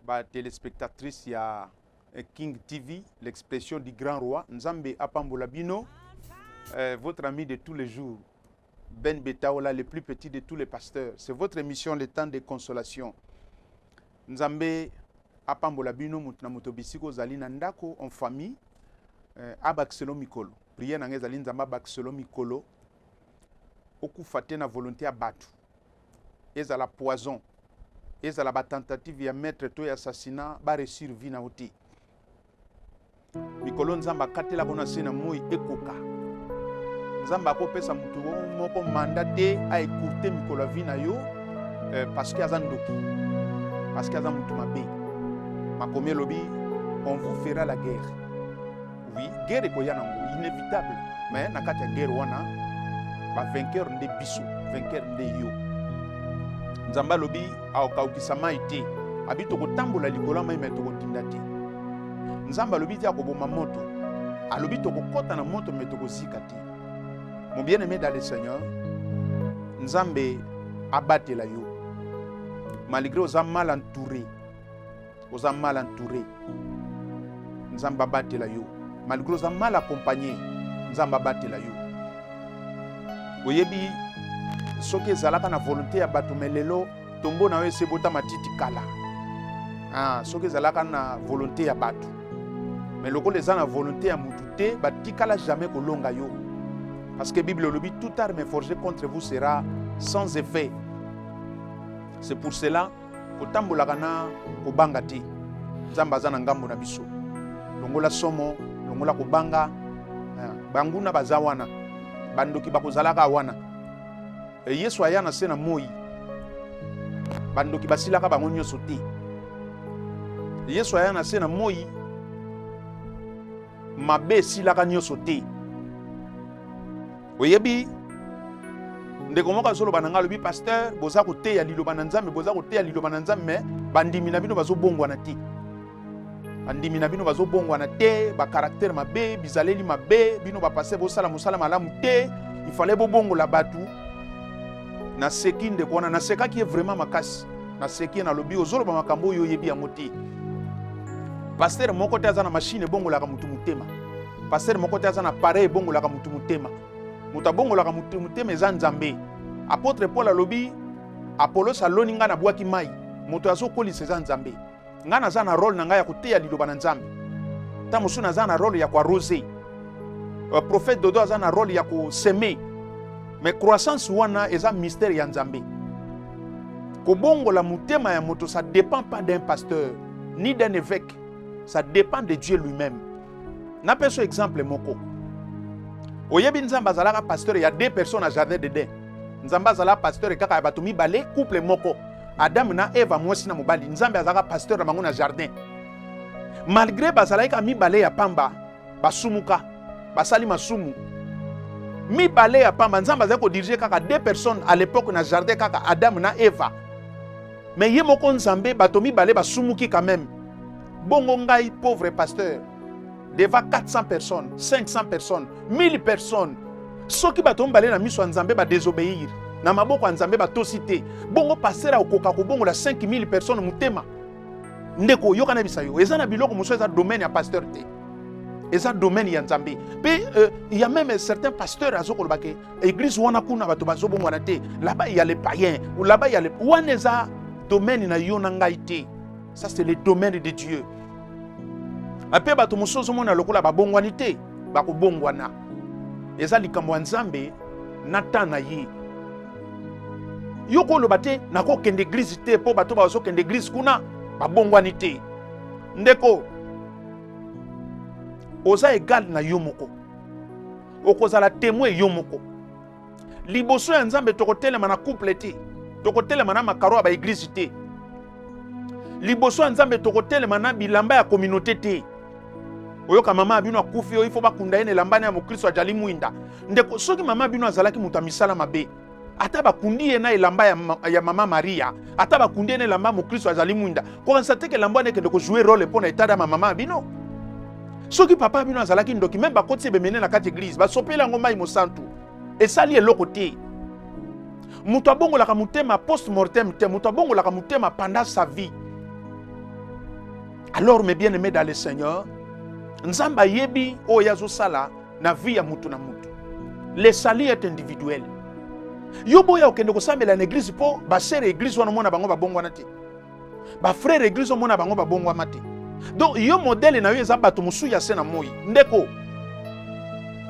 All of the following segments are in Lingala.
ba telespectatrice ya eh, King TV, l'expression du grand roi. Nzambe apambola bino. Euh, votre ami de tous les jours, Ben Betaola, le plus petit de tous les pasteurs. C'est votre émission, le temps de consolation. Nzambe apambola bino moto na moto bisiko ozali na ndako en famille euh, abakiselo mikolo priere na ngai ezali nzambe abakiselo mikolo okufa te na volonté ya bato ezala poison ezala ba tentative ya maître to ya assassinat ba réussir vie na yo te mikolo nzambe akatela mpo na se na moi ekoka nzambe akopesa moto moko manda te aekourte mikolo ya vie na yo eh, parce que aza ndoki parce que aza moto mabe makomi elobi on vous fera la guerre Oui, guerre ekoya nango inévitable, mais na kati ya guerre wana ba vainqueur nde biso, vainqueur nde yo. Nzambe alobi akokaukisa mai te, abi tokotambola likolo ya mai mai tokotinda te. Nzambe alobi te akoboma moto, alobi tokokɔta na moto mai tokozika te. Mon bien-aimé dans le Seigneur, Nzambe abatela yo malgré oza mal entouré oza mal entouré nzambe abatela yo malgré oza mal accompagné nzambe abatela yo oyebi soki ezalaka na volonté ya bato me lelo tombo na yo esi ebota matiti kala ah, soki ezalaka na volonté ya bato me lokola eza na volonté ya motu te batikala jamais kolonga yo parce que bible elobi tout arme forgé contre vous sera sans effet c'est pour cela kotambolaka na kobanga te nzambe aza na ngambo na biso longola somo longola kobanga eh, banguna baza wana bandoki bakozalaka wana eh, yesu aya na se na moi bandoki basilaka bango nyonso te yesu aya na se na moi mabe esilaka nyonso te oyebi ndeko moko azoloba na ngai alobi pasteur boza koteya liloba na nzambe boza koteya liloba na nzambe me bandimi na bino bazobongwana te bandimi na bino bazobongwana te bakaraktere mabe bizaleli mabe bino bapase bosala mosala malamu te ifale bobongola bato naseki ndeko wana nasekaki ye vraiment makasi naseki ye nalobi ozoloba makambo oyo oyebi yango te pastere moko te aza na mashine ebongolaka motu motema Pasteur moko te aza na pareil ebongolaka mutu motema. Moto abongolaka mutu motema eza Nzambe. Apotre Paul alobi Apollos aloni ngai na bwaki mai. Moto azokolisa eza Nzambe. Ngai naza na role na ngai ya koteya liloba na Nzambe. Ntango mosusu naza na role ya koarose. Uh, prophète Dodo aza na role ya koseme. Me croissance wana eza mystère ya Nzambe. Kobongola motema ya moto ça dépend pas d'un pasteur ni d'un évêque. Ça dépend de Dieu lui-même. napesa exemple moko oyebi nzambe azalaka pasteur ya deux personnes na jardin d'eden nzambe azalaka pasteur kaka ya bato mibale couple moko adamu na eva mwasi na mobali nzambe azalaka pasteur na bango na jardin malgre bazalaki kaka mibale ya pamba basumuka basali masumu mibale ya pamba nzambe azali kodirige kaka deux personnes à l'époque na jardin kaka adamu na eva me ye moko nzambe bato mibale basumuki quand même Bongo ngai pauvre pasteur devant 400 personnes, 500 personnes, 1000 personnes. Soki bato mibale na miso ya Nzambe ba désobéir, na maboko ya Nzambe batosi te. Bongo pasteur akokoka kobongola 5000 personnes motema. Ndeko oyoka na bisa yo, eza na biloko mosusu eza domaine ya pasteur te. eza domaine ya nzambe mpe euh, ya meme certain pasteur azokoloba ke église wana kuna bato bazobongwana te laba ya le payen laba ya le wana eza domaine na yo na ngai te ça c'est le domaine de dieu mpe bato mosusu ozomona lokola babongwani te bakobongwana eza likambo ya nzambe na ntan na ye yo koloba te nakokende eglize te mpo bato bazokende eglize kuna babongwani te ndeko oza egale na yo moko okozala temoin yo moko liboso ya nzambe tokotelema na couple te tokotelema na makaro ya baeglize te liboso ya nzambe tokotelema na bilamba ya kominauté te oyoka mama ya bino akufi oyo ifo bakunda ye na elambani ya mokristo ajali mwinda ndeko soki mama ya bino azalaki moto ya misala mabe ata bakundi ye na elamba ya, ma, ya mama maria ata bakundi ye na elamba ya mokristo azali mwinda kokanisa teke elamba wana ekende kozue role mpo na etada ya mamama ya bino soki papa bino azalaki ndoki meme bakotisi ebemene na kati eglize basopeli yango mai mosantu esali eloko te moto abongolaka motema post mortem te moto abongolaka motema pendant sa vie alors mes bien aimé dans le seigneur nzambe ayebi oyo ye azosala na vie ya moto na moto le sali est individuel yo boya okende kosambela na eglize mpo basere eglize wana omona bango babongwana te ba frère église omona bango babongwama te donc yo modele na yo eza bato mosusu ya se na moi ndeko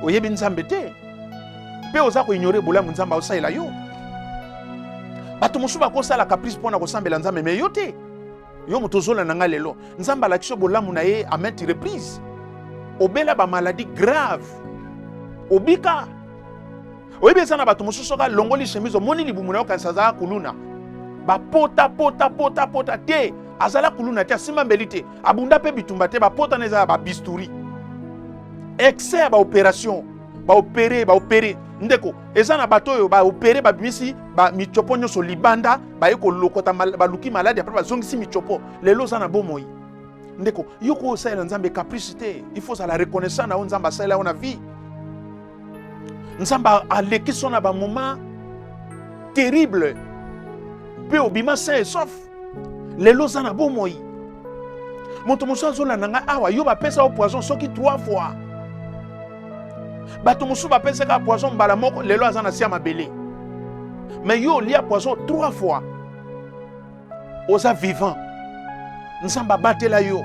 oyebi nzambe te mpe oza koignore bolamu nzambe aosalela yo bato mosusu bakosala caprice mpo na kosambela nzambe me yo te yo moto ozola na ngai lelo nzambe alakisi yo bolamu na ye a maintes reprises obela bamaladi grave obika oyebi eza na bato mosusu soki alongoli chemise omoni libumu na yo kanisa azala kuluna bapota pota pota pota te azala kuluna te asimba mbeli te abunda mpe bitumba te bapota na eza ya babisturi excès ya baopération baopere baopere ndeko eza na bato oyo baopere babimisi bamicopo nyonso libanda baye kolokota baluki maladi apres bazongisi micopo lelo oza na bomoi ndeko yo ko osalela nzambe caprice te il faut ozala reconnaissant na yo nzambe asalela yo na vie nzambe alekisi na bamoma terrible mpe obima sain et sauf lelo oza na bomoi moto mosusu azolanda ngai awa yo bapesa yo poison soki trois fois bato mosusu bapesaka poison mbala moko lelo aza na sia mabele mais yo olia poison trois fois oza vivant nzambe abatela yo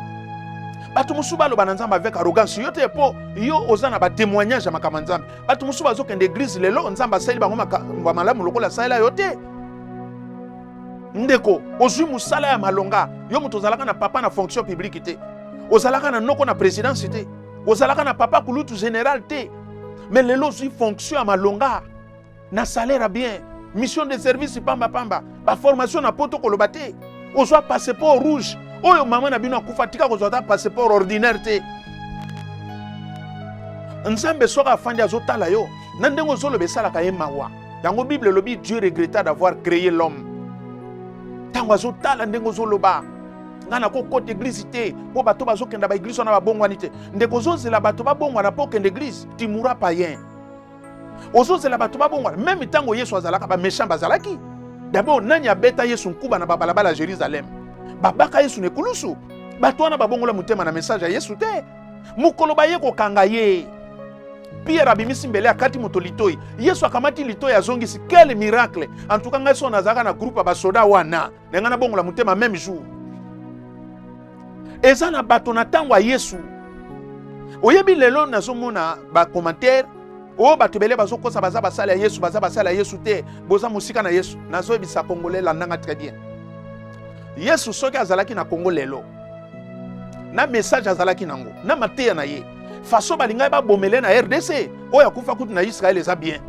bato mosusu baloba na nzambe avec arrogance yo te mpo yo oza na batémoignage ya makambo ya nzambe bato mosusu bazokende eglize lelo nzambe asaleli bango makambo ya malamu lokola asalela yo te ndeko ozwi mosala ya malonga yo moto ozalaka na papa na fonction publique te ozalaka na noko na présidence te ozalaka na papa kulutu général te me lelo ozwi fonction ya malonga na salaire bien mission de service pamba pamba ba formation na poto koloba te ozwa passeport rouge oyo mama na bino akufa tika kozwa ata passeport ordinaire te nzambe soki afandi azotala yo na ndenge ozoloba esalaka ye mawa yango bible elobi dieu regretta d'avoir créé l'homme ntango azotala ndenge ozoloba ngai nakokota eglize te mpo bato bazokenda baeglize wana babongwani te ndeko ozozela bato babongwana mpo okende eglize timura payen ozozela bato babongwana meme ntango yesu azalaka bamechan bazalaki dabord nani abeta yesu nkuba na babalabala ya jerusalem babaka yesu na ekulusu bato wana babongola motema na message ya yesu te mokolo baye kokanga ye pierre abimisi mbele akati moto litoi yesu akamati litoi azongisi quel miracle antuka ngai so nazalaka na groupe ya basoda wana na ngai nabongola motema meme jour eza na bato na ntango ya yesu oyebi lelo nazomona bacommentaire oyo oh, bato ebele bazokosa baza basali ya yesu baza basali ya yesu te boza mosika na yesu nazoyebisa kongole landanga très bien yesu soki azalaki na kongo lelo na message azalaki nango na mateya na ye faso balingaki babomele na rdc oyo akufa kutu na israele eza bien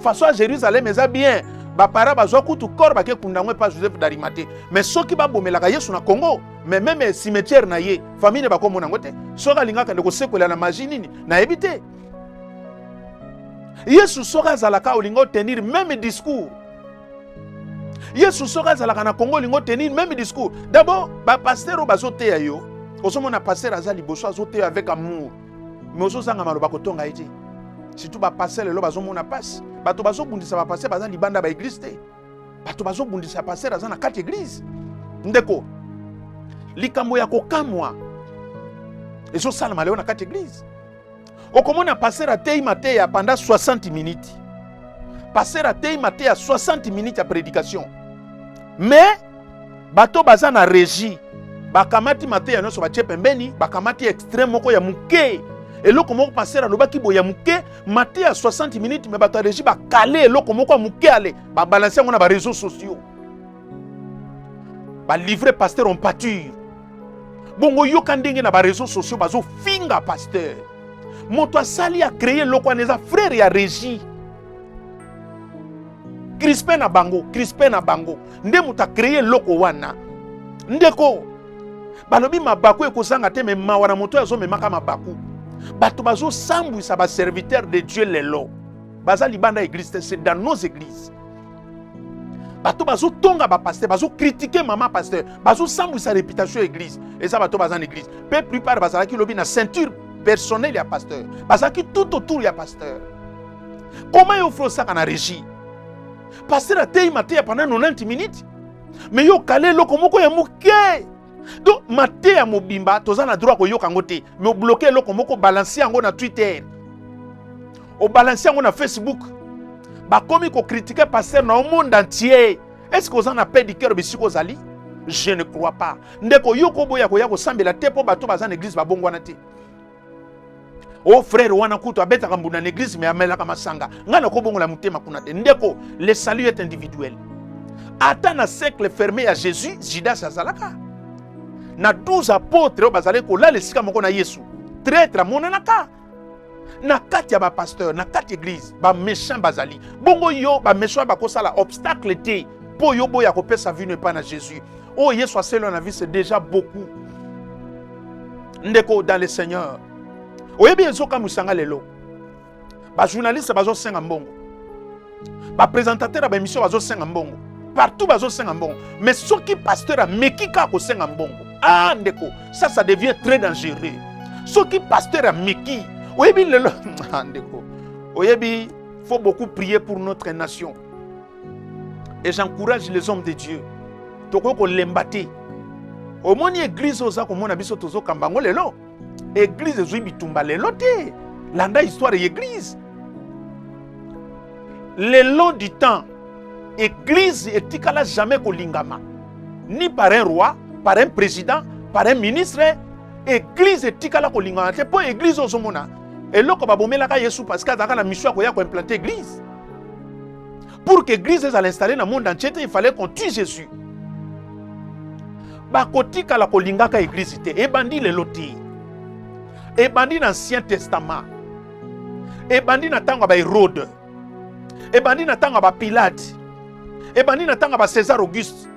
façon ya jerusalem eza bien bapara bazwa kutu corps bake kunda yango epa joseph darimate mais soki babomelaka yesu na congo mais meme cimetière na ye famille ne bakomona yango te soki alingaka nde kosekwela na magie nini nayebi te yesu soki azalaka olingi otenir meme discours yesu soki azalaka na congo olingi otenir meme discours dabord bapaster oyo bazoteya yo ozomona paster aza liboso azoteya avec amour me ozozanga maloba kotonga ye te surtout bapase lelo bazomona mpasi bato bazobundisa bapase baza libanda ba eglise te bato bazobundisa paster aza na kati eglise ndeko likambo ya kokamwa ezosalama lelo na kati eglise okomona paster ateyi mateya panda 60 minutes paster ateyi mateya 60 minutes ya prédication mais bato baza na regie bakamati mateya nyonso batie pembeni bakamati extreme moko ya moke eloko moko paster alobaki boye ya moke mateya 60 minutes me bato ya regie bakale eloko moko ya moke ale babalanse yango na bareseau sociaux balivre paster on pature bongo yoka ndenge na bareseau sociaux bazofinga paster moto asali akreye eloko wana eza frere ya regie crispin na bango crispin na bango nde moto akreye eloko wana ndeko balobi mabaku ekozanga te me mawa na moto oyo azomemaka mabaku bato bazosambwisa baserviteur de dieu lelo baza libanda ya eglise te c'est dans nos églises bato bazotonga bapaster bazokritike mama paster bazosambwisa réputation ya église eza bato baza na église mpe plupart bazalaki lobi na ceinture personnel ya pasteur bazalaki tout autour ya pasteur koma yo fo osaka na régie pasteur ateyi mateya pendant 90 minutes me yo okale eloko moko ya moke donc mateya mobimba toza na droit koyoka yango te me obloke eloko moko obalanse yango na twitter obalanse yango na facebook bakomi kokritike pasteur na yo monde entier est ce que oza na pe du cœur bisika ozali je ne crois pas ndeko yo koboya koya kosambela te mpo bato baza na eglise babongwana te o oh, frere wana kutu abetaka mbunda na eglise me amelaka masanga ngai nakobongola motema kuna te ndeko le salut est individuel ata na cercle ferme ya jésus judas azalaka na 12 apotre oyo bazalaki kolala esika moko na yesu traitre amonanaka na kati ya bapasteur na kati eglise baméchant bazali bongo yo baméchant bakosala obstacle te mpo yo boya kopesa vino epai na jésus oyo oh, yesu aselwa na vie c'est déjà beaucoup ndeko dans le seigneur oyebi ezokamwisa nga lelo bajournaliste bazosenga mbongo bapresentateur ya baémission bazosenga mbongo partout bazosenga mbongo mais soki pasteur ameki kaka kosenga mbongo ah ndeko ça ça devient très dangereux soki pasteur ameki oyebi lelo ah, ndeko oyebi faut beaucoup prier pour notre nation et j'encourage les hommes de Dieu tokoki kolemba te omoni eglize oza komona biso tozokamba yango lelo eglize ezwi bitumba lelo te landa histoire ya eglize le long du temps eglize etikala jamais kolingama ni par un roi par un président par un ministre eglize etikala kolingama te mpo eglize ozomona eloko babomelaka yesu parce que azalaka na mission ya koya koimplante eglize pour que église ezala installe na monde entier te il fallait qu'on tue jésus bakotikala kolingaka église te ebandi lelo te ebandi na ancien testament ebandi na ntango ya baherode ebandi na ntango ya bapilate ebandi na ntango ya bacésar auguste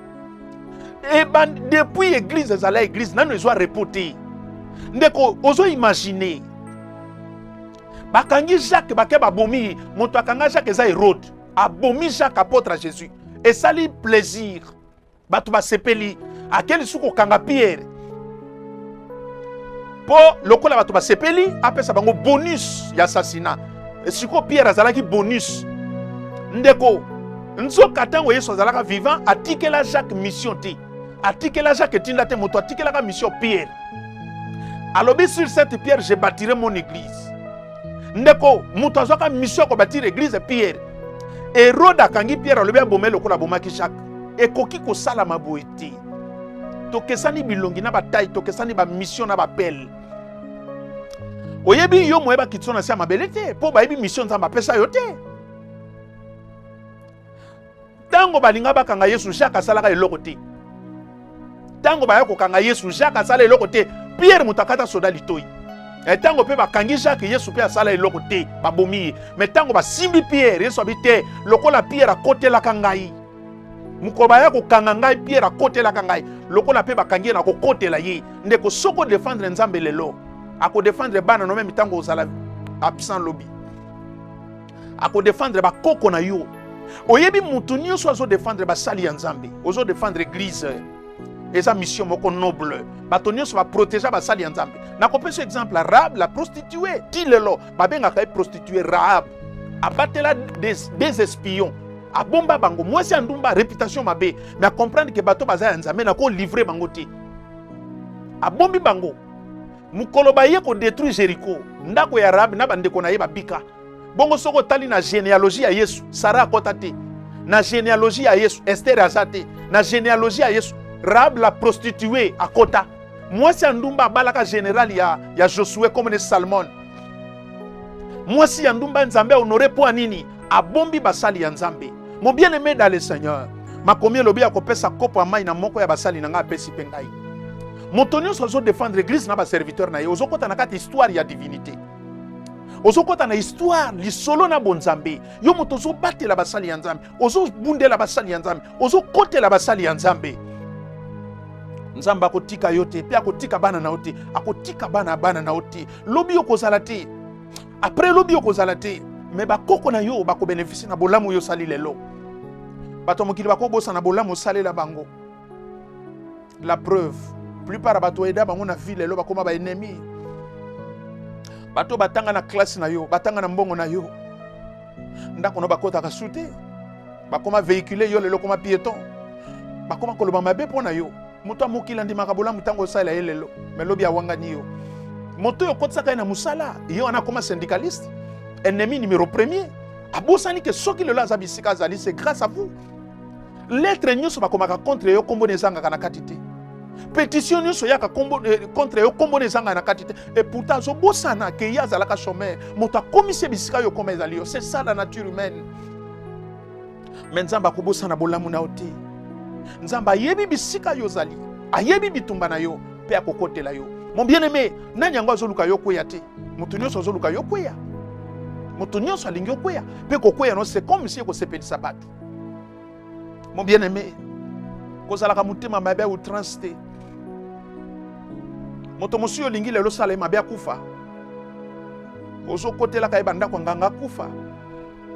ebandi depuis église ezala église nano ezwa repos te ndeko ozo imagine bakangi jacques bake babomi ye moto akanga jacques eza herode abomi jacques apôtre ya jésus esali plaisir bato basepeli ake lisusu kokanga pierre mpo lokola bato basepeli apesa bango bonus ya assassinat sikoyo pierre azalaki bonus ndeko nzoka ntango yesu azalaka vivant atikela jacques mission te atikela jacques etinda te moto atikelaka mission pierre alobi sur cette pierre je bâtirai mon église ndeko moto azwaka mission ya kobâtire église pierre erode akangi pierre alobi abomai lokola abomaki jacques ekoki kosalama boye te tokesani bilongi na batai tokesani bamission na bapele oyebi yo moye bakiti so na se ya mabele te mpo bayebi misio nzambe apesa yo te Tango balinga bakanga Yesu, Jacques asalaka eloko te. Tango baya kokanga Yesu, Jacques asala eloko te. Pierre moto akata soda litoi. E, tango pe bakangi Jacques, Yesu pe asala eloko te, babomi ye. Me tango basimbi Pierre, Yesu abi te, lokola Pierre akotelaka ngai. Mokolo baya kokanga ngai, Pierre akotelaka ngai. Lokola pe bakangi ye na kokotela ye. Ndeko soko defendre Nzambe lelo, ako defendre bana no meme tango ozala absent lobi. Ako défendre ba koko na yo. Oyebi mutu nioso azo défendre ba sali ya Nzambe. Ozo défendre église. Eza mission moko noble. Bato nioso ba protéger ba sali ya Nzambe. Nakopesa exemple Rahab la prostituée. Ti lelo babengaka ye prostituée Rahab. Abatela des, des espions abomba bango mwasi ya ndumba réputation mabe mais acomprendre ke bato baza ya nzambe na kolivre bango te abombi bango mokolo baye kodétruire jericho ndako ya rabi na bandeko na ye babika Bongo soki otali na genealogie ya Yesu, Sara akota te. Na genealogie ya Yesu, Esther aza te. Na genealogie ya Yesu, Rahab la prostituee akota. Mwasi ya ndumba abalaka general ya, ya Josue comme ne Salmon. Mwasi ya ndumba Nzambe honore mpo nini? Abombi basali ya Nzambe. Mon bien aimé dans le Seigneur, makomi elobi ya kopesa kopo ya mai na moko ya basali na ngai apesi mpe ngai. Moto nyonso azodefendre eglize na baserviteur na ye, ozokota na kati histoire ya divinité. ozokota na histoire lisolo na bonzambe yo moto ozobatela basali ya nzambe ozobundela basali ya nzambe ozokotela basali ya nzambe nzambe akotika yo te mpe akotika bana na yo te akotika bana ya bana na yo te lobi okozala te apres lobi okozala te me bakoko na yo bakobenefisi na bolamu oyo osali lelo bato ya mokili bakobosana bolamu osalela bango la preuve plupart ya bato oyeda bango na vie lelo bakoma ba ennemi bato batanga na classe na yo batanga na mbongo na yo ndako na bakotaka su te bakoma véhicule yo lelo okoma piéton bakoma koloba mabe mpo na yo moto ya mokili andimaka bolamu ntango osalela ye lelo me lobi awangani yo moto oyo okotisaka ye na mosala ye wana akoma syndicaliste ennemi numero premier abosani ke soki lelo aza bisika azali se grâce à vous Lettre nyoso bakomaka contre yo kombo ezangaka na kati te. Petition nyoso yaka kombo eh, contre yo kombo ezangaka na kati te. Et pourtant azobosana ke ye azalaka chômeur. Moto akomisi bisika yo koma ezali yo. C'est ça la nature humaine. Mais Nzambe akobosana bolamu na yo te. Nzambe ayebi bisika yo ozali. Ayebi bitumba na yo mpe akokotela yo. Mon bien-aimé, nani yango azoluka yo kweya te? Moto nyoso azoluka yo kweya. Moto nyoso alingi okweya mpe kokweya no c'est comme si ekosepelisa bato. Mon bien-aimé, kozalaka motema mabe ou transte. Moto mosusu olingi lelo sala ye mabe akufa. Ozokotelaka ye bandako nganga akufa.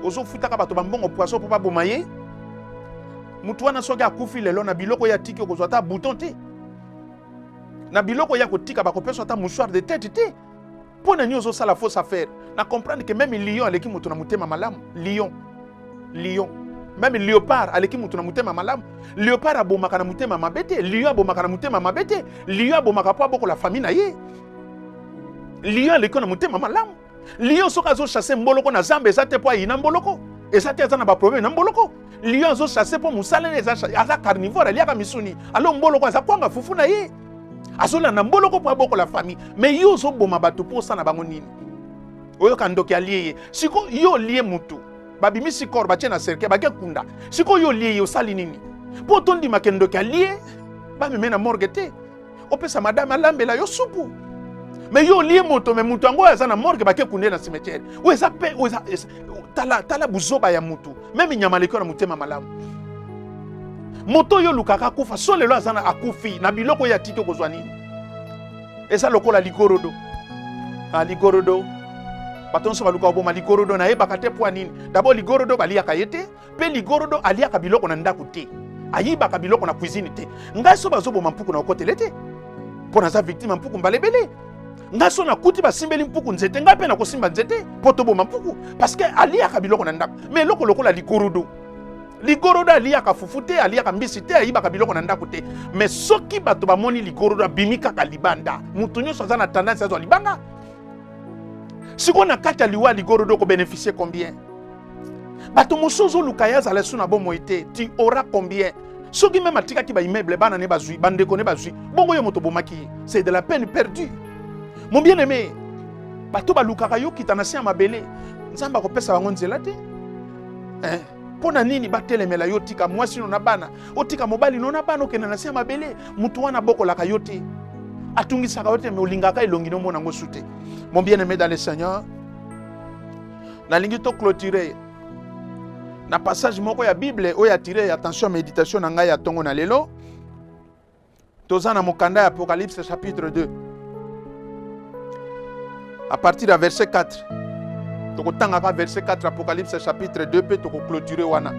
Ozofutaka bato bambongo poison mpo baboma ye. Moto wana soki akufi lelo na biloko ya tiki okozwa ata bouton te. Na biloko ya kotika bakopesa ata mouchoir de tete te. mpo na nini ozosala fausse affaire na comprendre que meme lion aleki moto na motema malamu lion lion meme leopard aleki moto na motema malamu leopard abomaka na motema mabe te lion abomaka na motema mabe te lion abomaka mpo abokola famille na ye lion aleki na motema malamu lion soki azochasse mboloko na zamba eza te mpo ayina mboloko eza te aza na baproblème na mboloko lion azo chasse mpo mosala ne aza carnivore aliaka misuni alo mboloko aza kwanga fufu na ye azolanda mboloko mpo abokola famille me yo ozoboma bato mpo osana bango nini oyoka ndoki alie ye siko yo olie motu babimisi kor batie na cercueil bake kunda siko yo olie ye osali nini mpo tondimaka ndoki alie bameme na morgue te opesa madame alambela yo supu me yo olie moto me moto yango oyo aza na morgue bake kunde na cimetière oyo eza pe oyo eza tala, tala buzoba ya motu meme nyama aleki na motema malamu moto oyo olukaka akufa so lelo aza na akufi na biloko oyo atiki okozwa nini eza lokola ligorodo ah, ligorodo bato nyonso balukaka boma ligorodo nayebaka te mpo ya nini dabord ligorodo baliyaka ye te mpe ligorodo aliaka biloko na ndako te ayibaka biloko na cuisine te ngai so bazoboma mpuku na okotele te mpo naza victime mpuku mbala ebele ngai so nakuti basimbeli mpuku nzete ngai mpe nakosimba nzete mpo toboma mpuku parceke aliyaka biloko na ndako ma eloko lokola ligorodo ligorodo aliyaka fufu te aliyaka mbisi te ayibaka biloko na ndako te me soki bato bamoni ligorodo abimi kaka libanda moto nyonso aza na tendance azwa libanga sikoyo na kati ya liwa ligorodo okobenefisie combien bato mosusu ozoluka ye azala esu na bomoi te ti ora combien soki meme atikaki baimmeuble bana ne bazwi bandeko ne bazwi bongo yo moto obomaki ye c'est de la peine perdue mon bien aimé bato balukaka yo kita na se ya mabele nzambe akopesa bango nzela te eh. mpo na nini batelemela yo otika mwasi no na bana otika mobali no na bana okende na se ya mabele motu wana abokolaka yo te atungisaka yo te me olingaka elongi nomona yango su te mon bien aimé dans le seigneur nalingi to clôturer na passage moko ya bible oyo atire attention méditation na ngai ya ntongo na lelo toza na mokanda ya apocalypse chapitre 2 à partir ya verset 4 tokotangaka verset 4 apocalypse chapitre 2 mpe tokoclôture wana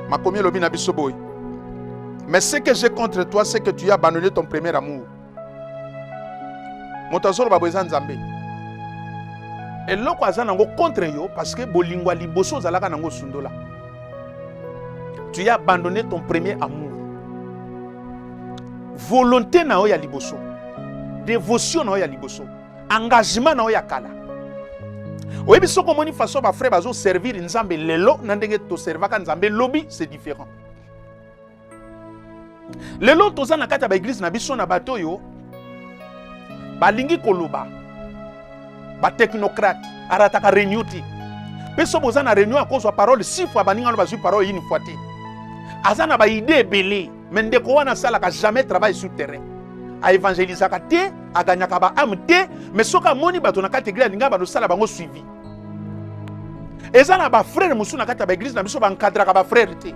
makomi elobi na biso boye mais ce que j'ai contre toi c'est que tu as abandonné ton premier amour moto azoloba boye eza nzambe eloko aza nango contre yo parce que bolingo ya liboso ozalaka nango osundola tu as abandonné ton premier amour volonté na yo ya liboso dévotion na yo ya liboso engagement na yo ya kala oyebi soki omoni façon bafrère bazoservir nzambe lelo na ndenge toservaka nzambe lobi c'est différent lelo toza na kati ya baeglize na biso na bato oyo balingi koloba batechnocrate arataka reunion te mpe soki boza na reunion akozwa parole si fois baningano bazwi parole yini fois te aza na baide ebele me ndeko wana asalaka jamais travail sur terrain aevangelisaka te aganyaka baame te me soki amoni bato na kati eglise alinga balosala bango suivi eza na bafrere mosusu na kati ya baeglise na biso bankadraka bafrere te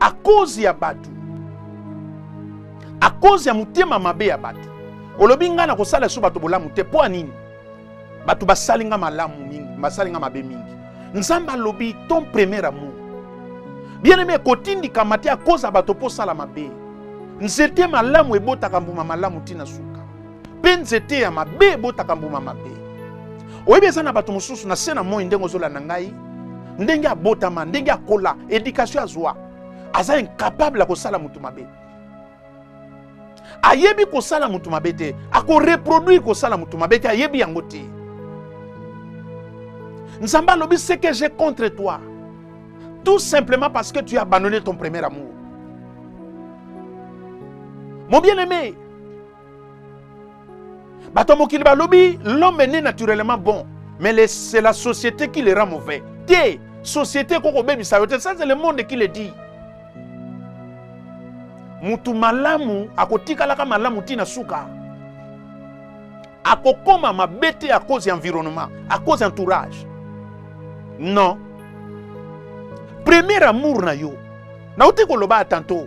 a cause ya bato a cause ya motema mabe ya bato olobi ngai nakosala lisusu bato bolamu te mpo ya nini bato basali ngai malamu mingi basali ngai mabe mingi nzambe alobi ton premier amour bien aime ekotindikama te akoza bato mpo osala mabe nzete malamu ebotaka mbuma malamu ntina suka mpe nzete ya mabe ebotaka mbuma mabe. Oyebi eza na bato mosusu na se na moi ndenge ozolanda ngai, ndenge abotama, ndenge akola, edikasio azwa, aza incapable ya kosala moto mabe. Ayebi kosala moto mabe te, akoreproduire kosala moto mabe te, ayebi yango te. Nzambe alobi ce que j'ai contre toi, tout simplement parce que tu as abandonné ton premier amour. Mon bien-aimé, bato ya mokili balobi l'homme ne naturellement bon mais les, c'est la société qui le rend mauvais te société ekoki kobebisa yo te ça c'est le monde qui le dit motu malamu akotikalaka malamu ntina suka akokoma mabe te à cause ya environnement à cause ya entourage non premier amour na yo nauti koloba ya tanto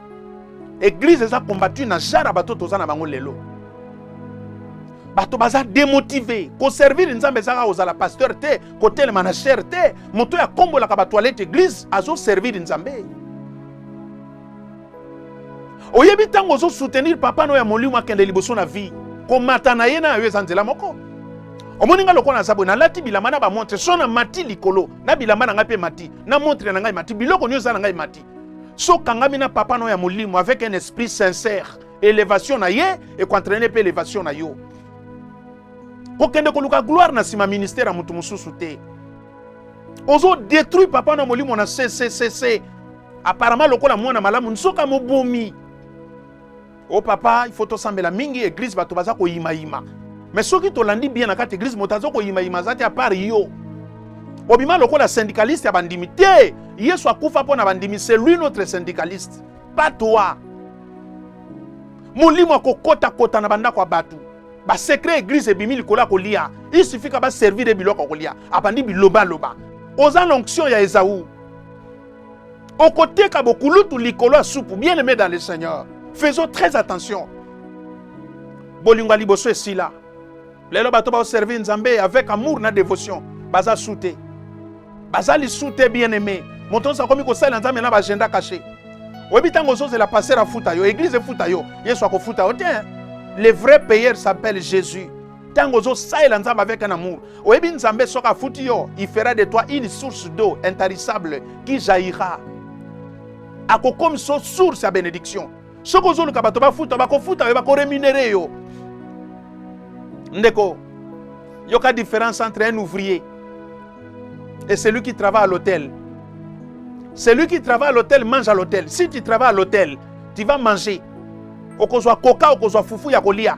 Eglise eza combattu na genre ya bato toza na bango lelo. bato baza demotive koservire nzambe ezaka kozala pasteur te kotelema na shere te moto oyo akombolaka batoilette eglise azoservire nzambe oyebi ntango ozosoutenir papa no ya molimo akende liboso na vie komata na ye na yo eza nzela moko omoni ngai lokola naza boye nalati bilamba na bamontre so na mati likolo na bilamba na ngai mpe mati na montre na ngai mati biloko nyonso eza na ngai mati so okangami na papa no ya molimo avec un esprit sincère elevation na ye ekoentraine mpe elevation na yo kokende koluka gloire na nsima ministère ya moto mosusu te ozo détruire papa na molimo na cccc apparemment lokola mwana malamu nsoka mobomi o oh, papa il faut tosambela mingi eglise bato baza koyimayima mais soki tolandi bien na kati eglise moto aza koyimayima aza te apart yo obima lokola syndicaliste ya bandimi te yesu akufa mpo na bandimi c'est lui notre syndicaliste pas toi molimo akokotakota na bandako ya bato basekre eglise ebimi likolo ya kolia isifika baservire biloko ya kolia abandi bilobaloba oza na onction ya ezau okoteka bokulutu likolo ya supu bien aimé dans le seigneur faisons très attention bolingo ya liboso esila lelo bato baoservir nzambe avec amour na dévotion baza su te baza lisu te bien aimé moto nyonso akomi kosalela nzambe na baagenda cache oyebi ntango ozozela paster afuta yo eglize efuta yo yesu akofuta yo te le vrai payeur s'appelle jésus ntango ozosalela nzambe avec un amour oyebi nzambe soki afuti yo il fera de toi une source d'eau intarissable qui jaillira akokomisa yo source ya benediction soki ozoluka bato bafuta bakofuta yo bakoremunere yo ndeko yoka différence entre un ouvrier et celui qui travaille à l'hôtel celui qui travaille à l'hôtel mange à l'hôtel si tu travailles à l'hôtel tu vas manger okozwa koka okozwa fufu ya kolia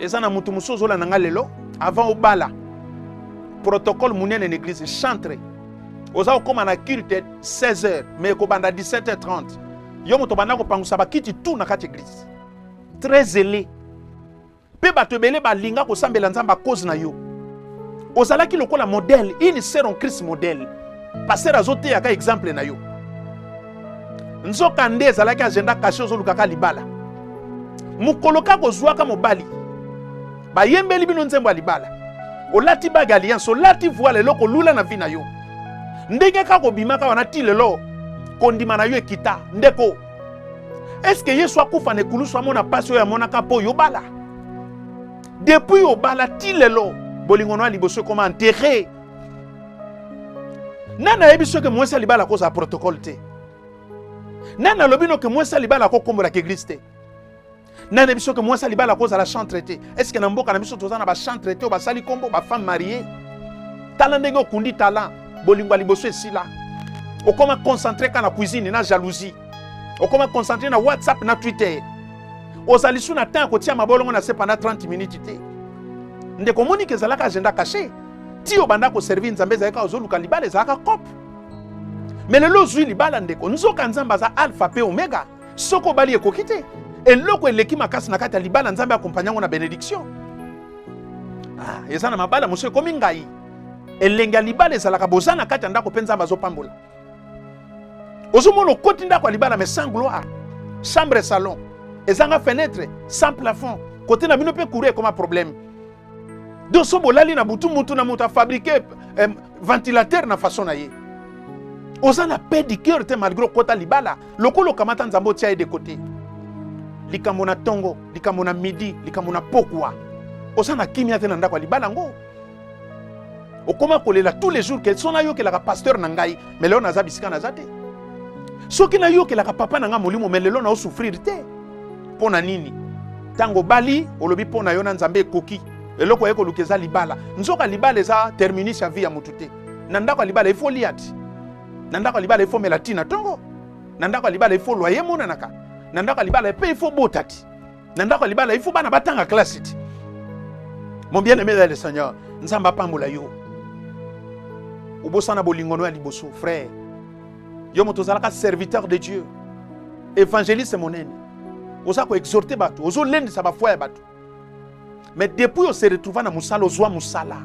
eza na mutu mosusu ozolanda nga lelo avant obala protocole munene na eglise chantre oza kokóma na culte 16 heures mais ekobanda 17 h 30 yo moto obanda kopangusa bakiti tout na kati eglise très zele mpe bato ebele balinga kosambela nzambe a cause na yo ozalaki lokola modèle une sœur en christ modèle pasteur azoteyaka exemple na yo nzokande ezalaki agenda kasi ozolukaka libala mokolo kaka kozwaka mobali bayembeli bino nzembo ya libala olati bage alliance olati voile eloko lula na vi na yo ndenge kaka obimaka wana ti lelo kondima na yo ekita ndeko eske yesu akufa na ekulusu amona mpasi oyo amonaka mpo oyo obala depuis obala ti lelo bolingo na liboso ekoma enterre nani ayebi soki mwasi ya libala akozala protokole te nani alobi noke mwasi ya libala akokombolaka eglise te nani ayebi soki mwasi ya libala akozala chantre te eske na mboka na biso toza na bachantre te oyo basali nkombo bafemme marie tala ndenge okundi tala bolingo ya liboso esila okoma concentre ka na cuisine na jalousie okoma concentre na whatsapp na twitter ozali su na temps ya kotia mabolongo na se pendant 30 minutes te ndeko omoni ke ezalaka agenda cache ti obanda koservir nzambe ezali kaka ozoluka libala ezalaka cope me lelo ozwi libala ndeko nzoka nzambe aza alpha mpe omega soki obali ekoki te eloko eleki makasi na kati ya libala nzambe akompagna yango na benediction ah, eza na mabala mosusu ekomi ngai elengi ya libala ezalaka boza na kati ya ndako mpe nzambe azopambola ozomona okoti ndako ya libala mais sans gloire chambre salon ezanga fenêtre sans plafond kote na bino mpe courant ekoma problème donc so bolali na butu mutu na moto afabrike eh, ventilateur na façon na ye oza na pe du cœur te malgré okota libala lokola okamata nzambe otia ye de côté likambo na ntongo likambo na midi likambo na pokwa oza na kimia te na ndako ya libala yango okoma kolela tous les jours ke so nayokelaka pasteur na ngai me lelo naza bisika naza te soki nayokelaka papa na ngai molimo me lelo naosouffrir te mpo na nini ntango obali olobi mpo na yo na nzambe ekoki eloko oye koluka eza libala nzoka libala eza terminus ya vie ya motu te na ndako ya libala ifo lia ti na ndako ya libala ifo mela ti na ntongo na ndako ya libala ifo lwaye emonanaka na ndako ya libala mpe ifo bota ti na ndako ya libala ifo bana batanga klasi ti mon bien aimé le seigneur nzambe apambola yo obosana bolingono ya liboso frère yo moto ozalaka serviteur de dieu évangéliste monene oza koexhorte bato ozolendisa bafoi ya bato mais depuis ose retrouva na mosala ozwa mosala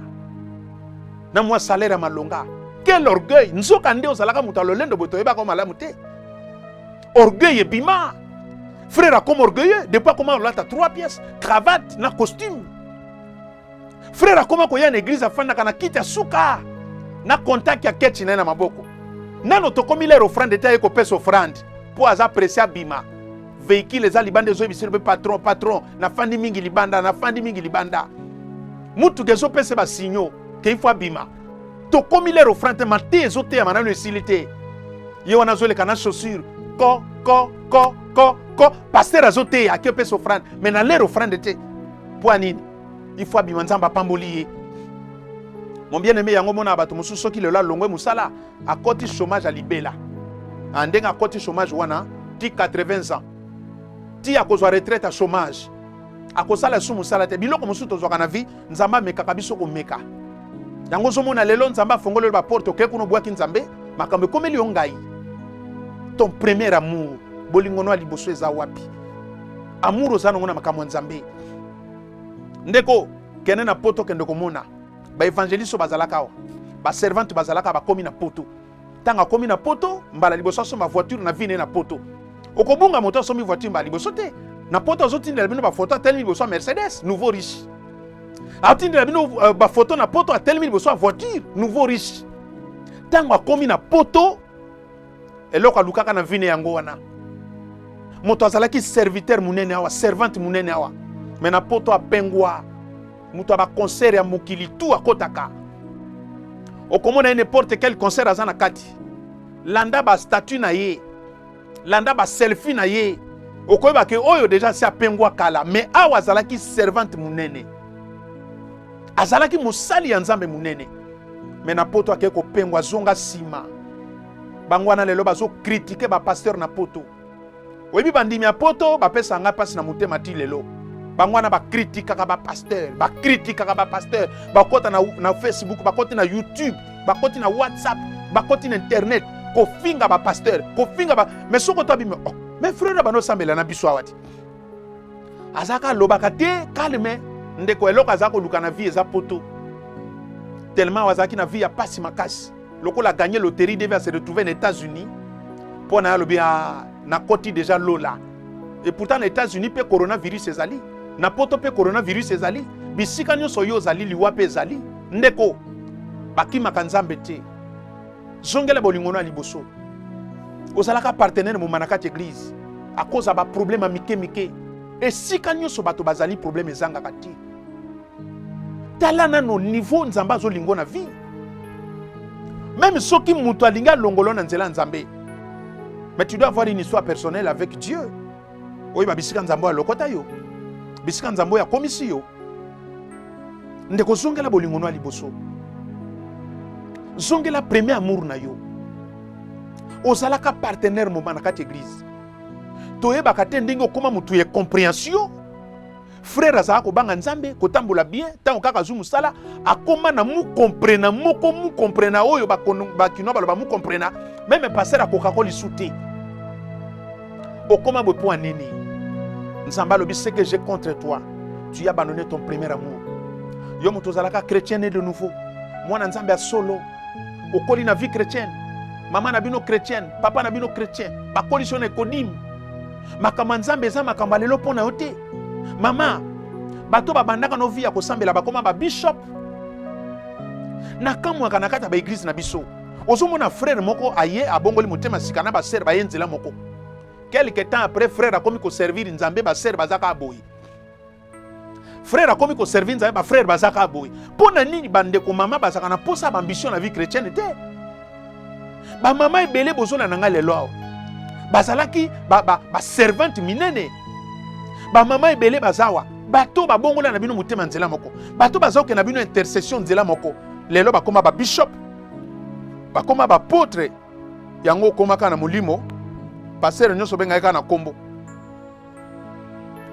na mwa salaire ya malonga quel orgueil nzoka nde ozalaka moto ya lolendo boye toyebaka malamu te orgueil ebima frère akoma orgueilleux depuis akoma kolata 3 pièces cravate na costume Frère akoma koya na eglise afandaka na kiti ya suka na contact ya kechi na ye na maboko. Nano tokomi lere ofrande te aye kopesa ofrande mpo aza presse abima. Veikile eza libanda ezoyebisa mpe patron patron, nafandi mingi libanda, nafandi mingi libanda. Motuka ezopesa basinyo ke ifo abima. Tokomi lere ofrande te, mate ezoteyama nano esili te. Ye wana azoleka na chaussure ko ko ko ko ko pasteur azoteya ake opesa ofrande me na lere ofrande te Mpo nini? Ifo abima, Nzambe apamboli ye. Mon bien aime, yango mona bato mosusu soki lelo alongwe mosala akoti chômage ya libela. Ah, ndenge akoti chômage wana ti 80 ans ti akozwa retraite ya chômage akosala esu mosala te biloko mosusu tozwaka na vie nzambe amekaka biso komeka yango ozomona lelo nzambe afongoleli baporte okei kuna obwaki nzambe makambo ekomeli yo ngai ton premier amour bolingono ya liboso eza wapi amour oza nango na makambo ya nzambe ndeko kende na poto kende komona baevangeliste oyo bazalaka awa baservante bazalaka bakomi na poto ntango akomi na poto mbala liboso asomba voiture na vi na ye na poto okobunga moto asombi voiture mbala liboso te na poto azotindela bino bafoto atelemi liboso ya mercedes nouveau riche atindela bino euh, bafoto na poto atelemi liboso ya voiture nouveau riche ntango akomi na poto eloko alukaka na vine yango wana moto azalaki serviteur monene awa servante monene awa me na poto apengwa moto ya baconcert ya mokili tu akotaka okomona ye n'importe quel concert aza na kati landa bastatut na ye landa baselfie na ye okoyeba ke oyo deja asi apengwa kala me awa azalaki servante monene azalaki mosali ya nzambe monene me na poto akei kopengwa azonga nsima bango wana lelo bazokritike bapasteur na poto oyebi bandimi ya poto bapesa ngai mpasi na motema ti lelo bango wana bakritikaka bapasteur bakritikaka bapasteur bakota na, na facebook bakoti na youtube bakoti na whatsapp bakoti na internet kofinga bapasteur kofinga ba... me soko to abimi oh, me frere bano osambela na biso awa ti azalaka alobaka te calme ndeko eloko aza koluka na vie eza poto tellement azalaki na vie ya pasi makasi lokola gagner loterie devait se retrouver na États-Unis mpo na alobi ah, na koti déjà lola et pourtant na États-Unis pe coronavirus ezali na poto pe coronavirus ezali bisika nyonso yo ozali liwa pe ezali ndeko bakimaka nzambe te zongela bolingo na liboso ozalaka partenaire moma na kati eglise akoza baproblème ya mike mike esika nyonso bato bazali problème ezangaka te tala nano niveau nzambe azolingo na vie meme soki moto alingi alongolo na nzela ya nzambe mais tu dois avoir une histoire personnelle avec dieu oyeba bisika nzambe oyo alokota yo bisika nzambe oyo akomisi yo ndeko zongela bolingo no ya liboso zongela premier amour na yo ozalaka partenaire moma na kati eglize toyebaka te ndenge okoma motu ya comprehension frere azalaka kobanga nzambe kotambola bien ntango kaka azwi mosala akoma na mukomprena moko mukomprena oyo bakinois baloba mukomprena meme paster akokako lisu te okoma boye mpo ya nini nzambe alobi ce que j'ai contre toi tu abandonne ton premier amour yo moto ozalaka chrétien ne de nouveau mwana nzambe ya solo okoli na vie chrétienne mama na bino chrétienne papa na bino chrétien bakolisi yo na ekodime makambo ya nzambe eza makambo ya lelo mpo na yo te mama bato babandaka no vi ya kosambela bakoma babishop nakamwaka na kati ya baeglize na biso ozomona frere moko aye abongoli motema sika na basere baye nzela moko quelque temps après frere akomi koservir nzambe basere bazaka aboyi frère akomi koservi nzambe bafrère bazaka boye mpo na nini bandeko mama bazalaka na mposa ya baambition na vie chrétienne te bamama ebele bozona na ngai lelo awa bazalaki baservante ba, ba minene bamama ebele bazawa bato babongola na bino motema nzela moko bato bazokende na bino intercession nzela moko lelo bakoma babishop bakoma bapotre yango okomaka na molimo pasere nyonso obengaki kaka na nkombo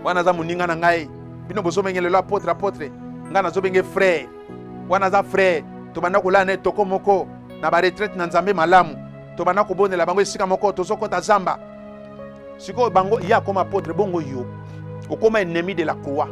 wana aza moninga na ngai bino bozobenge lelo apotre apotre ngai nazobenge frere wana aza frere tobanda kolala ne toko moko na baretraite na nzambe malamu tobanda kobondela bango esika moko tozokota zamba sikoyo bango ye akoma apotre bongo yo okoma ennemi de la croix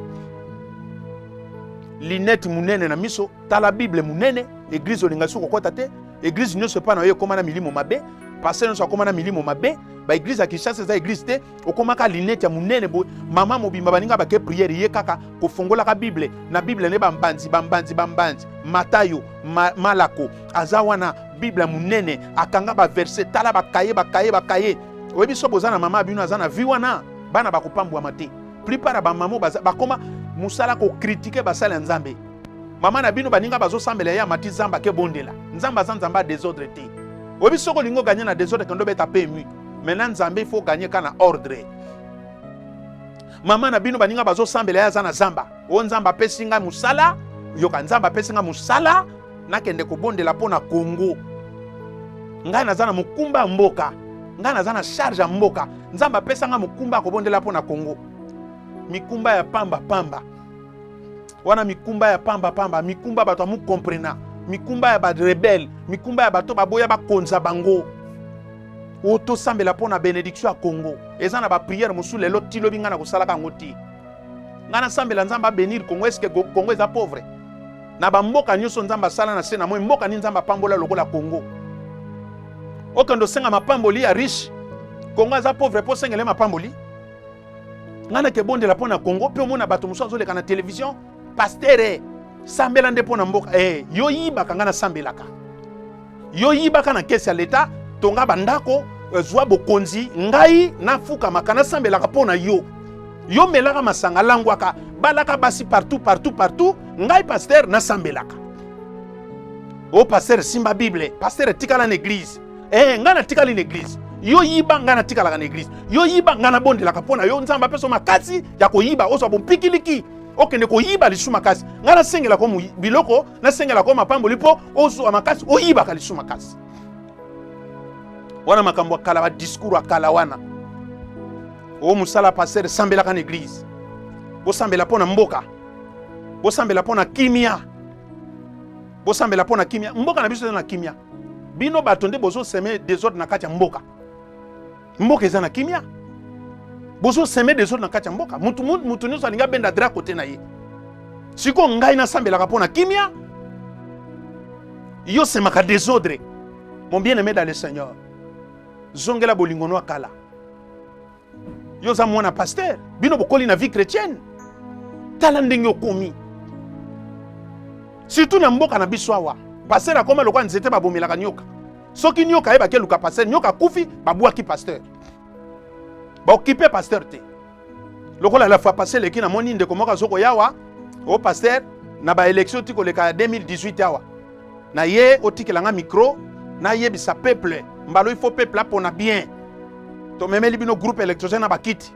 linete monene na miso tala bible monene eglize olinga soki kokota te eglize nyonso epai na yo ekoma na milimo mabe pasteur nyonso akoma na milimo mabe baeglize ya kinshasa eza eglize te okomaka linete ya monene boye mama mobimba baninga bake priere ye kaka kofongolaka bible na bible nde bambanzi bambanzi bambanzi matayo ma, malako aza wana bible ya monene akanga baverse tala bakaye bakaye bakaye oyebi so boza na mama bino aza na vi wana bana bakopambwama te plupart ya bamama bakoma mosala kokritike basali ya nzambe mama na bino baninga bazosambela ye amati zamba ke bondela nzambe aza nzambe ya desordre te oyebi soki olingi oganye na desordre kendo beta pemui Maintenant Nzambe il faut gagner kana ordre. Mama na bino baninga bazosambela ya aza na zamba. O Nzambe apesi ngai mosala, yoka Nzambe apesi ngai mosala, nakende kobondela mpo na Congo. Ngai naza na mokumba ya mboka, ngai naza na charge ya mboka. Nzambe apesa ngai mokumba ya kobondela mpo na Congo. Mikumba ya pamba pamba wana mikumba ya pamba pamba, mikumba bato ya mukomprena, mikumba ya ba rebelle, mikumba ya bato baboya bakonza bango. oyo tosambela mpo na benediction ya congo eza na bapriere mosusu lelo ti lobi ngai nakosalaka yango ti ngai nasambela nzambe abenir congo eske congo eza pauvre na bamboka nyonso nzambe asala na se na moi mboka nini nzambe apambola lokola congo okende osenga mapamboli ya riche congo aza pauvre mpo osengele mapamboli ngai nakebondela mpo na congo mpe omona bato mosusu azoleka na televizio pastere sambela nde mpo na mboka e yo yibaka ngai nasambelaka Yo yibaka na kesi ya leta, tonga bandako, euh, zwa bokonzi, ngai nafukamaka nasambelaka mpo na yo. Yo melaka masanga, langwaka, balaka basi partout partout partout, ngai pasteur nasambelaka. O oh, pasteur simba Bible, pasteur tikala na eglise. Eh, ngai natikali na eglise. yo yiba ngai natikalaka na eglise yo yiba ngai nabondelaka mpo na yo nzambe apesa yo makasi ya koyiba ozwa bompikiliki okende koyiba lisusu makasi ngai nasengelaka biloko nasengela ko mapamboli mpo ozwa makasi oyibaka lisu makasi wana makambo ya kala badiskur ya kala wana o mosala paster sambelaka na eglize bosambela mpo na mboka bosambela mpo na kimia bosambela mpo na kimia mboka na biso eza na kimia bino bato nde bozoseme desordre na kati ya mboka mboka eza na kimia bozo seme desordre na kati ya mboka mutu mutu nyonso alingi abenda dra kote na ye sikoyo ngai nasambelaka mpo na kimia yo semaka desordre mon bien aimé dans le seigneur zongela bolingo no kala yo oza mwana pasteur bino bokoli na vie chrétienne tala ndenge okomi surtout na mboka na biso awa pasteur akoma lokola nzete babomelaka nyoka soki nyoka ayebaki eluka pasteur nyoka akufi babwaki pasteur baokipe pasteur te lokola la fois passé eleki namoni ndeko moko azo koya awa o oh, pasteur na baélection ti koleka ya 2018 awa na ye otikela nga micro nayebisa peuple mbalo il faut peuple apona bien tomemeli bino groupe électrogène na bakiti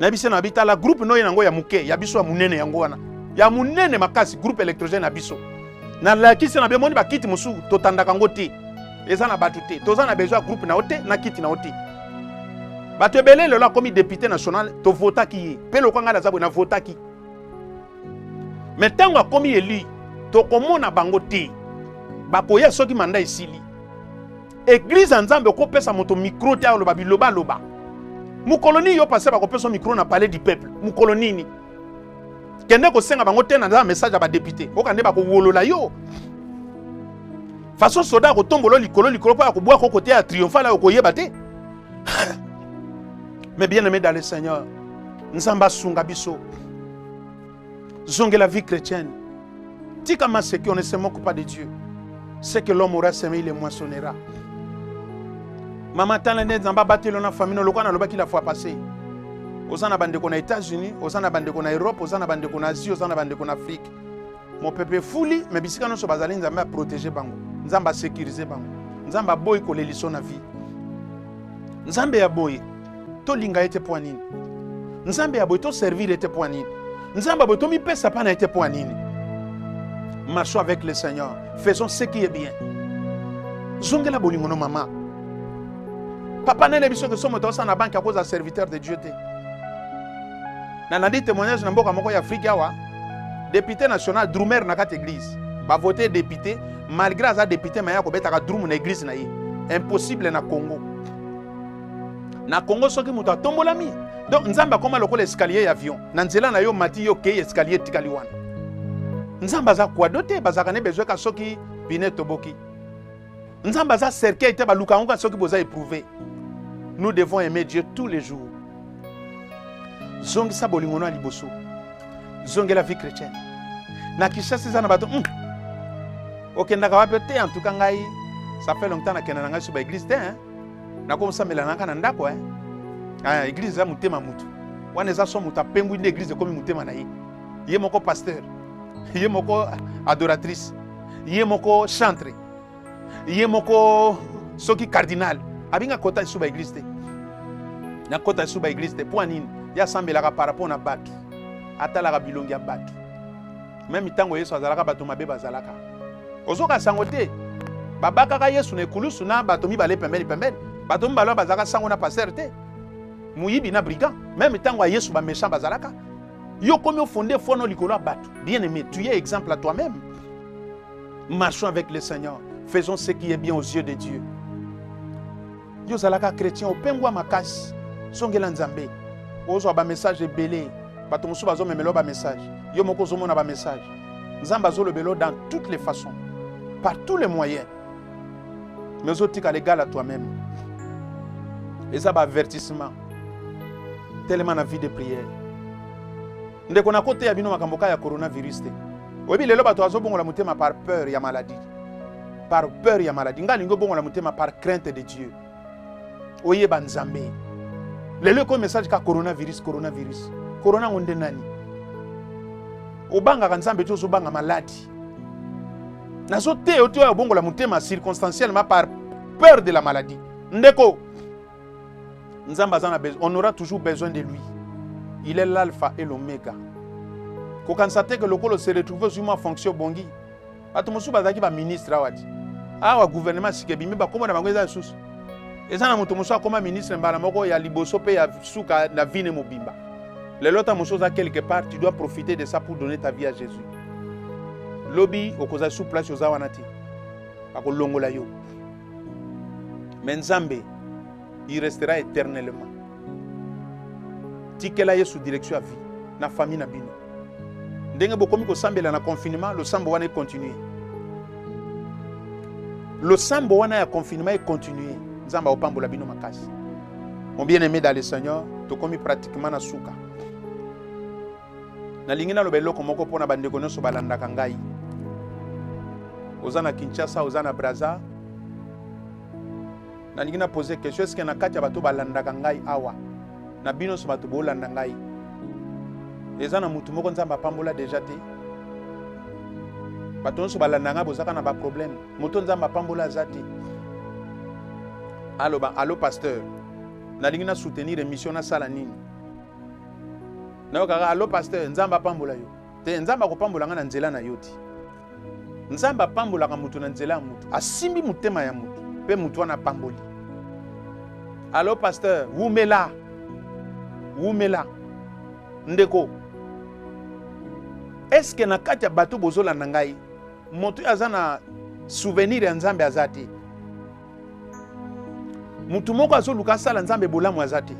na biso na bitala groupe noye nango ya muke ya biso ya munene yango wana ya munene makasi groupe électrogène ya biso na lakisi na bemoni bakiti mosusu totandaka ngo te eza na bato te toza na besoin ya groupe na yo te na kiti na yo te bato ebele lelo akomi député national tovotaki ye mpe lokola ngai naza boye navotaki me ntango akomi eli tokomona bango te bakoya soki manda esili Eglise ya Nzambe okopesa moto micro te aloba biloba loba. Mukolo nini yo pasteur bakopesa micro na palais du peuple? Mukolo nini? Kende kosenga bango te na message ya ba député. Oka nde bakowolola yo. Façon soda akotombolo likolo likolo mpo akobwa ko côté ya triomphal ayo koyeba te. Mais bien aimé dans le Seigneur, Nzambe asunga biso. zongela vie chrétienne tika maseki on ne se moque pas de dieu ce que l'homme aura semé il moissonnera mama tala nde nzambe abateli na famille lokola nalobaki la fois passé oza na bandeko na états-unis oza na bandeko na europe oza na bandeko na asie oza na bandeko na afrique mopepe efuli me bisika nyonso bazali nzambe aprotege bango nzambe asecurise bango nzambe aboyi koleliso na vie nzambe ya boye tolinga ye te mpo ya nini nzambe ya boye toservire ye te mpo ya nini nzambe ya boye tomipesa mpa na ye te mpo ya nini marchons avec le seigneur faisons ce qui est bien zongela bolingo no mama papa nene biso ke so moto osala na banke akozala serviteur de dieu te nalandi témoignage na mboka moko ya afrike awa député national drumer na kati église bavote député malgré aza député maye akobetaka drum na église na ye impossible na congo na congo soki moto atombolami donc nzambe akoma lokola escalier ya avion na nzela na yo mati yo kei escalier etikali wana nzambe aza kwado te bazalaka ne bezwe ka soki pine toboki nzambe aza cercueil te baluka yango ka soki boza eprouve nous devons aimer dieu tous les jours zongisa bolingo no ya liboso zongela vie chrétienne na kishasi eza na bato mm. okendaka wapi te en tout cas ngai ça fait longtemps nakenda na ngai so baeglise te hein? nakomosambela na ngai na ndako eh? ah, eglize eza motema motu wana eza so moto apengwi nde eglize ekomi motema na ye ye moko pasteur ye moko adoratrice ye moko chantre ye moko soki cardinal abinga kota lisusu baeglize te nakota lisusu baeglize te mpo ya nini ye asambelaka par rapport na bato atalaka bilongi ya bato Meme ntango Yesu azalaka, bato mabe bazalaka. Ozoka sango te. Babakaka Yesu na ekulusu na bato mibale pembeni pembeni. Bato mibale bazalaka sango na pasteur te. Moyibi na brigand. Meme ntango ya Yesu ba méchant bazalaka. Yo komi ofonde fono likolo ya bato. Bien aimé, tu es exemple à toi-même. Marchons avec le Seigneur. Faisons ce qui est bien aux yeux de Dieu. yo ozalaka chrétien opengwa makasi zongela nzambe ozwa bamessage ebele bato mosusu bazomemela bamessage yo moko ozomona bamessage nzambe azolobela dans toutes les façons par tous les moyens mais ozotika legal à toi-même eza baavertissement telema na vie de prière Ndeko na kote ya bino makambo ka ya coronavirus te. Oyebi lelo bato azobongola motema par peur ya maladie. Par peur ya maladie. Ngai lingo bongola motema par crainte de Dieu. Oyeba Nzambe. Lelo ko message ka coronavirus, coronavirus. Corona ngo nde nani? Obangaka Nzambe te ozobanga maladi. Nazo te yo te obongola motema circonstanciellement par peur de la maladie. Ndeko nzambe aza na besoin on aura toujours besoin de lui il est l'alpha et l'omega kokanisa te ke lokola se retrouve ozwi mwa fonction obongi bato mosusu bazalaki baministre awa ti awa gouvernement sika ebimi bakoma na bango eza lisusu eza na moto mosusu akoma ministre mbala moko ya liboso mpe ya suka na vine mobimba lelo ta mosusu oza quelque part tu dois profiter de ça pour donner ta vie à jésus lobi okozala su place oza wana te bakolongola yo mais nzambe il restera éternellement tikela yesu direction ya vie na famille na bino ndenge bokomi kosambela na confinement losambo wana econtinue losambo wana ya confinement econtinue nzambe aopambola bino makasi mon bien aimé dans le seigneur tokomi pratiquement na suka nalingi naloba eloko moko mpo na bandeko nyonso balandaka ngai oza na kinshasa oza na braza nalingi na pose question eske na kati ya bato balandaka ngai awa na bino nyonso bato bolanda ngai eza na motu moko nzambe apambola deja te bato nyonso balanda ngai bozaka na baproblème moto nzambe apambola aza te aloba alo pasteur nalingi na soutenir émission nasala nini nayokaka allo pasteur nzambe apambola yo te nzambe akopambola ngai na nzela na yo ti nzambe apambolaka moto na nzela ya moto asimbi motema ya moto mpe moto wana apamboli allo pasteur wumela wumela ndeko eske na kati ya bato bozolanda ngai moto oyo aza na souvenir ya nzambe aza te motu moko azoluka asala nzambe bolamu aza te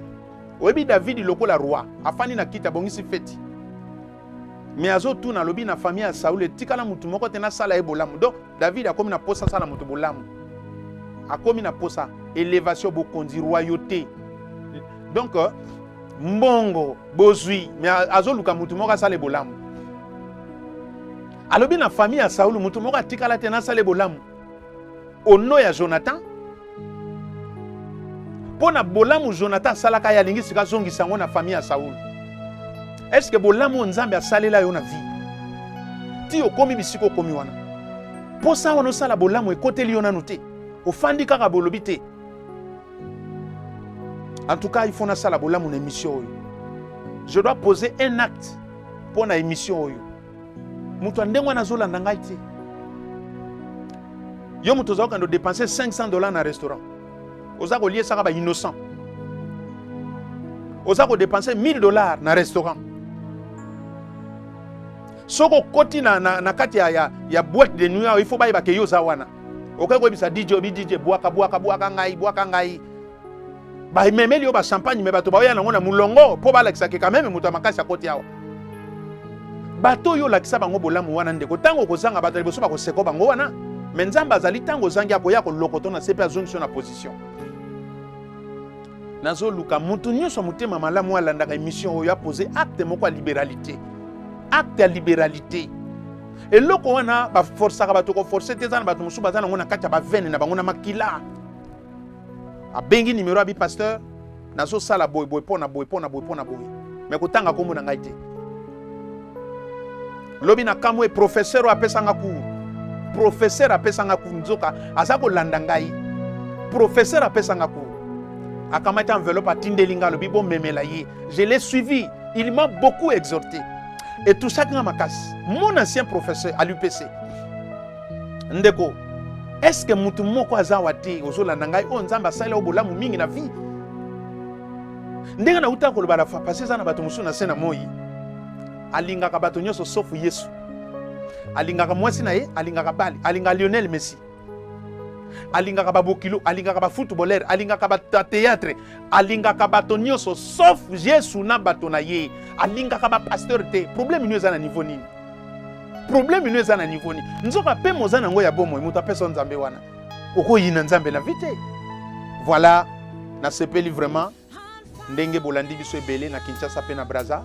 oyebi davidi lokola roi afandi na kiti abongisi feti me azotuna alobi na famille ya saul etikala motu moko te nasala ye bolamu donc davidi akomi na posa asala motu bolamu akomi na posa elevation bokonzi royauté donc euh, mbongo bozwi me azoluka motu moko asala ye bolamu alobi na famille ya saul motu moko atikala te nasala ye bolamu au nom ya Jonathan mpo na bolamu Jonathan asalaka ye alingi sika azongisa yango na famille ya Saul eske bolamu oyo Nzambe asalela yo na vie ti okomi bisika okomi wana mposa wana osala bolamu ekoteli yo nanu te ofandi kaka bolobi te en tout cas il faut nasala bolamu na émission oyo je dois poser un acte mpo na émission oyo moto ya ndenge wana azolanda ngai te yo moto oza kokende odepense 500 dollar na restaurant oza koliesaka bainnocent oza kodepense 1000 dollar na restaurant soki okoti na, na, na kati ya, ya, ya boite de nuit il faut bayebake yo oza wana okoki koyebisa dj obi dj bwaka bwaka bwaka ngai bwaka ngai bamemeli yo bachampagne me bato baoya nango na molongo mpo balakisa ke kameme moto ya makasi akoti awa bato oyo olakisa bango bolamu wana ndeko ntango okozanga bato ya liboso bakoseko bango wana me nzambe azali ntango ozangi akoya kolokoto na se mpe azongisi yo na position nazoluka moto nyonso ya motema malamu alandaka emission oyo apose acte moko ya liberalité acte ya liberalité eloko wana baforsaka bato koforce te eza na bato mosusu baza nango na kati ya bavene na bango na makila abengi nimero ya bi pasteur nazosala boye boye mpo na boye mpo na boye mpo na boye me kotanga nkombo na ngai te lobi na kamwe professeur oyo apesanga cour professeur apesanga cour nzoka aza kolanda ngai professeur apesanga cour akamati enveloppe atindeli ngai alobi bomemela ye je l'ai suivi il m'a beaucoup exhorté etusaki nga makasi mon ancien professeur à l'upc ndeko eske mutu moko aza wa te ozolanda ngai oyo nzambe asali o bolamu mingi na vie ndenge nauta koloba na pasi eza na bato mosusu na se na moi alingaka bato nyonso sofu yesu alingaka mwasi na ye alingaka bali alingaka lionel messi alingaka babokilo alingaka bafootballer alingaka bateatre alingaka bato nyonso sauf yesu na bato na ye alingaka bapasteur te problème nio eza na niveau nini probleme no eza na niveau ni nzoka mpe moza na yango ya bomoi moto apesa nzambe wana okoyina nzambe na vi te voilà nasepeli vraiment ndenge bolandi biso ebele na kinshasa mpe na braza